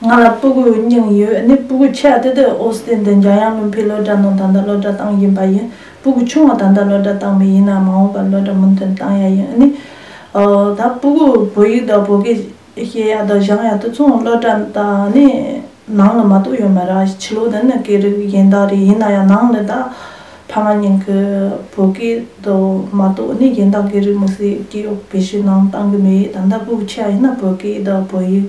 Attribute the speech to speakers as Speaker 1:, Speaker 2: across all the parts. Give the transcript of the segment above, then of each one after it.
Speaker 1: ང་ལ་སྤུ་གུ་རྙིང་ཡོད་ནི་སྤུ་གུ་ཆེ་བ་དེ་དེ་ཨོ་སི་ཏན་དང་འཇམ་དབྱངས་བློ་འཕེལ་སློབ་གྲྭ་ནང་ད་ལྟ་སློབ་གྲྭ་བཏང་བཞིན་པ་ཡིན། སྤུ་གུ་ཆུང་བ་ད་ལྟ་སློབ་གྲྭ་བཏང་མེད་ཡིན་ནའང་མ་འོངས་པར་སློབ་གྲྭ་མུ་མཐུད་བཏང་ཡག་ཡིན། ཨཱ་ནི། ད་སྤུ་གུ་བོད་ཡིག་དང་བོད་སྐད་ཤེས་ཡག་དང་བཞག་ཡག་དེ་མཚུངས་སློབ་གྲྭ་ད་ནི་ནང་ལ་མ་གཏོགས་ཡོད་མ་ར། བྱིས་བློ་དེ་ནི་སྐད་རིགས་གཞན་དག་རེད་ཡིན་ན་ཡང་ནང་ལ་ད་ཐ་ན་ཉིན་གྱི་བོད་སྐད་དུ་མ་གཏོགས་ནི་གཞན་དག་གི་རིགས་མི་སྲིད་ཀྱི་དཔེ་ཞིག་ནང་གཏང་གི་མེད་ད་ལྟ་སྤུག་ཆེ་བ་ཡིན་ན་བོད་སྐད་དུ་བོད་ཡིག་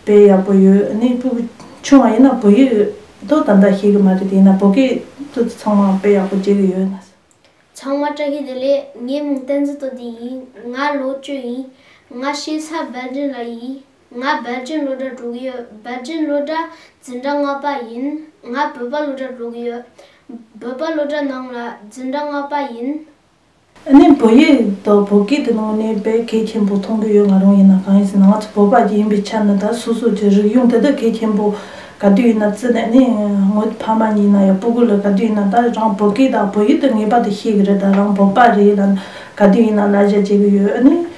Speaker 1: དཔེ་ཡག་པོ་ཡོད་ནི་སྤུག་ཆུང་བ་ཡིན་ན་བོད་ཡིག་དུ་ད་ལྟ་ཤེས་ཀྱི་མ་རེད་དེ་ཡིན་ན་བོད་སྐད་དུ་ཚང་མ་དཔེ་ཡག་པོ་བྱེད་ཀྱི་ཡོད་ན། ཚང་མ་བཀྲ་
Speaker 2: ཤིས་བདེ་ལེགས་ངའི་མིང་བསྟན་འཛིན་དོ་དི་ཡིན་ང་ལོ་བཅུ་ཡིན་ང་ཤེས་ས་སྦལ་འདྲེ་ལ་ཡིན། ང་སྦལ་རྗེན་བློ་གྲྭ་དྲུག་ཡོད་སྦལ་རྗེན་བློ་གྲྭ་འཛིན་གྲྭ་ལྔ་པ་ཡིན་ང་བོད་པ་བློ་གྲྭ་དྲུག་ཡོད་བོད་པ་བློ་གྲྭ་ནང་ལ་འཛིན་གྲྭ་ལྔ་པ་ཡིན། ཨ་ནེ་
Speaker 1: བོད་ཡིག་དང་བོད་སྐད་དེ་དངོས་གནས་བད་གད་ཆེན་པོ་མཐོང་གི་ཡོད་ང་རང་ཡིན་ན་གང་ཡིན་ཟེར་ན་ང་ཚོ་བོད་པ་ཡིན་པའི་ཆ་ནས་ད་སོ་སོ་ཀྱི་རིག་གཞུང་དེ་དག་གད་ཆེན་པོ་ག་དུས་ཡིན་ན་བརྩི་ནས་ནི་ངོ་ད་ཕ་མ་གཉིས་ན་ཡང་སྤུ་གུ་ལ་ག་དུས་ཡིན་ན་ད་རང་བོད་སྐད་དང་བོད་ཡིག་དེ་ངེས་པ་དེ་ཤེས་གི་རེད་ད་རང་བོད་པ་རེད་ལ་ནི་ག་དུས་ཡིན་ན་ལ་གཞས་བྱེད་གི་ཡོད་ཨ་ནེ།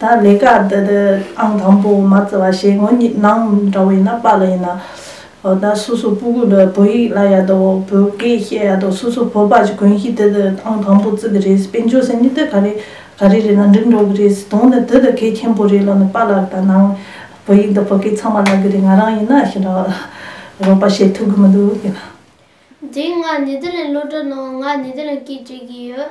Speaker 1: ད་ལས་ཀ་དེ་དེ་ཨང་དང་པོ་མ་བརྩི་བ་ཞེས་ངོ་གཉིས་ནང་འདྲ་བོ་ཡིན་ན་པཱ་ལི་ཡིན་ན། འོ་ད་སོ་སོ་པུ་གུ་ལོས་བོད་ཡིག་ལ་ཡ་དོ་བོད་སྐད་བཤད་ཡ་དོ་སོ་སོ་བོད་པ་ཀྱི་གོན་ཤིས་དེ་དེ་ཨང་དང་པོ་བརྩི་གི་རེད་ཟེར་དཔེ་འཇོག་ཟེར་ནི་དེ་ག་རེ་ག་རེ་རེད་ན་འགྲིག་འགྲོ་གི་རེད་ཟེར་དོན་ནི་དེ་དེ་གལ་ཆེན་པོ་རེད་ལོ་ནི་པཱ་ལགས་ད་ནང་བོད་ཡིག་འདི་བོད་སྐད་ཚང་མ་བཀླག་གི་རེད་ང་རང་ཡིན་ན་ཞེ་འདྲ་བ་རོགས་པ་བྱེད་ཐུབ་གི་མི་འདུག་དེ་ན། འདིའི་ང་
Speaker 2: ནི་དེ་ལན་བློ་གྲོས་གནང་ང་ནི་དེ་ལན་སྐད་བྲིས་གི་ཡོད་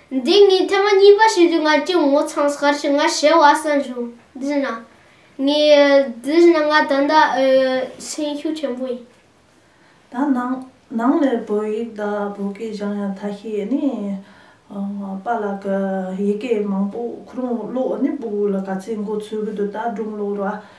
Speaker 2: འདི་ངའི་ཐེངས་གཉིས་པ་ཞིག་རེད་ང་ཀྱི་ངོ་ཚང་ཤར་ཞིག་ང་བྱེ་བ་ས་འབྱུང་འདི་ན་ངའི་འདི་བཞིན་ན་ང་ད་ལྟ་སེམས་ཤུགས་ཆེན་པོ་ཡིན། ད་
Speaker 1: ནང་ནང་ནས་བོད་ཡིག་དང་བོད་སྐད་སྦྱང་ཡ་ཐ་ཤི་ནི་པ་ལགས་ཀྱི་ཡི་གེ་མང་པོ་ཁོ་རང་བློ་ནི་པུ་གུ་ལ་ག་ཚད་འགོ་ཚུལ་གི་འདུག་ད་སྒྲུང་ལོ་ར་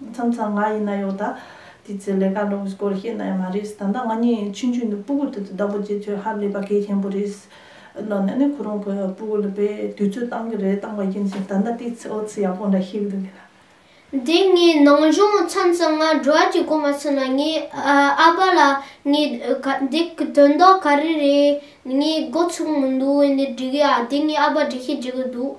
Speaker 1: མཚམས་མཚམས་ང་ཡིན་ན་ཡོད་ད། དེའི་ཚེ་ལས་ཀ་ལོག་གི་སྐོར་བཤད་ན་ཡང་མ་རེད། ད་ལྟ་ང་གཉིས་ཡིན་ཕྱིན་ཆོས་འདི་སྤུ་གུར་དེ་ཚོ་བདག་པོ་བྱེད་ཚོད་ཧ་ལས་པ་གལ་ཆེན་པོ་རེད། ལོ་ན་ནི་ཁོ་རང་གི་སྤུ་གུར་ལ་པའི་དུས་ཚོད་བཏང་གི་རེད་བཏང་བ་ཡིན་ཕྱིན་ད་ལྟ་དེའི་ཚེ་ཨོ་ཚི་ཡག་པོ་འདྲ་ཤེས་གི་འདུག་གི་ལ། དེ་ངའི་
Speaker 2: ནང་སྦྱོང་མཚམས་མཚམས་ང་འགྲོ་བ་གྱི་གོ་མ་ཚོད་ན་ངའི་ཨ་ཕ་ལ་ངའི་འདི་གི་དོན་དག་ག་རེ་རེད་ངས་འགོ་ཚུགས་མི་འདུག་འདི་འབྲི་གི་ཨ་དེ་ངའི་ཨ་ཕ་འབྲི་ཤེས་བྱེད་གི་འདུག་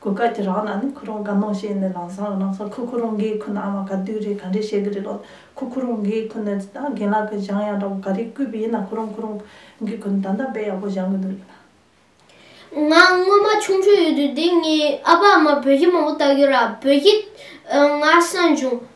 Speaker 1: གོ་སྐབས་ཀྱི་རང་ན་ནི་ཁོ་རང་དགའ་སྣང་བྱས་ནས་ལང་སང་གི་ནང་སང་ཁོ་ཁོ་རང་འགའི་ཁུ་ན་ཨ་མ་ག་དུས་རེད་ག་འདྲས་བཤད་གི་རེད་ལོ། ཁོ་ཁོ་རང་འགའི་ཁུ་ནས་ད་རྒན་ལགས་ཀྱི་བཞང་ཡང་འདྲ་བོ་ག་རེ་བརྐུས་པས་ཡིན་ན་ཁོ་རང་ཁོ་རང་གི་ཁུ་ནས་ད་ལྟ་དཔེ་ཡག་པོ་བཞང་གི་འདུག་ཡིན་ན། ང་སྔོན་
Speaker 2: མ་ཆུང་ཆུང་ཡོད་དུས་འདི་ངའི་ཨ་ཕ་ཨ་མ་བོད་གཞི་མང་པོ་བལྟ་རྒྱུ་ར་བོད་གཞི་ང་སང་བྱུང།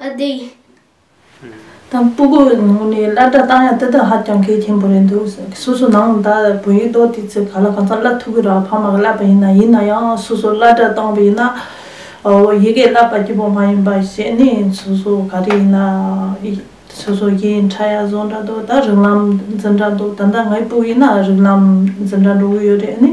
Speaker 2: ཨ་ཏི།
Speaker 1: དང་སྤུ་གུ་ནང་ནས་སླར་བསྒྲགས་བཏང་ཡང་དེ་དག་ཧ་ཅང་གལ་ཆེན་པོ་རེད་འདུག་ཟེར་སོ་སོ་ནང་ད་བོད་ཡིག་ཏོག་དེ་ཚོས་ག་ལ་གང་ཟག་བསླབ་ཐུབ་ཀི་རག་ཕ་མ་ག་བསླབ་པ་ཡིན་ན་ཡིན་ན་ཡང་སོ་སོ་སླར་བསྒྲགས་བཏང་བས་ན་འོ་ཡི་གེ་བསླབ་པ་སྐྱིད་པོ་མ་ཡིན་པ་ཞེས་ནི་སོ་སོ་ག་རེ་ཡིན་ན་སོ་སོ་གི་འཕྲ་ཡ་བཟོ་འདྲ་འདུག་ད་རིགས་ལམ་འཛིན་འདྲ་འདུག་ད་ལྟ་ངའི་སྤུ་ཡིན་ན་རིགས་ལམ་འཛིན་འདྲ་འགྲོ་གི་ཡོད་རེད་ནི།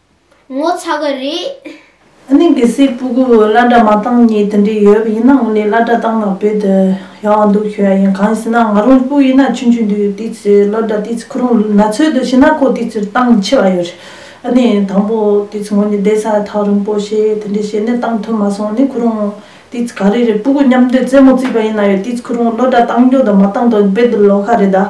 Speaker 2: ངོ་ཚ་གི་རེད། གནས་
Speaker 1: འགའི་སའི་སྤུ་གུ་བླ་གྲྭ་མ་བཏང་གཉིས་དེ་འདྲས་ཡོད་པ་ཡིན་ན་ངོ་ནས་བླ་གྲྭ་བཏང་ན་བོད་དུ་ཡག་བ་འདུག་ཞུ་ཡ་ཡིན་གང་ཟེར་ན་ང་རང་སྤུ་ཡིན་ན་ཆུང་ཆུང་དུས་དུས་ཚོད་བློ་གྲྭ་དུས་ཚོད་ཁོ་རང་ན་ཚོད་དུ་ཤི་ན་ཁོ་དུས་ཚོད་བཏང་ཆེ་བ་ཡོད་རེད་ཨ་ནས་དང་པོ་དུས་ཚོད་ངོ་ནས་བསྡད་ས་ཐག་རིང་པོ་བྱས་དེ་འདྲས་བྱས་ནས་བཏང་ཐུབ་མ་སོང་ནས་ཁོ་རང་ཏིས་ག་རེ་རེད་སྤུ་གུ་མཉམ་འདོད་རྩེད་མོ་རྩིས་པ་ཡིན་ན་ཡོད་ཏིས་ཁོ་རང་བློ་སྒྲ་བཏང་རྒྱུ་དང་མ་བཏང་དོན་དཔེ་འདི་ལོག་ཁ་རེད་ད།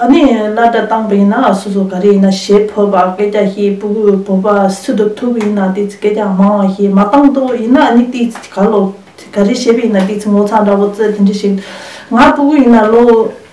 Speaker 1: ཨ་ནི་བླ་སྒྲ་བཏང་པ་ཡིན་ན་སོ་སོ་ག་རེ་ཡིན་ན་ཞེས་བོད་པ་སྐད་ཆ་ཞེས་སྤུ་གུ་བོད་པ་སུ་དུ་ཐུག་ཡིན་ན་ཏིས་སྐད་ཆ་མང་བ་ཞེས་མ་བཏང་དོ་ཡིན་ན་ཨ་ནི་ཏིས་ག་ལོག་ག་རེ་བྱས་པ་ཡིན་ན་ཏིས་ངོ་ཚ་འདྲ་བོ་རྩེད་དེ་འདྲ་ཞིག་ང་སྤུ་གུ་ཡིན་ན་བློ།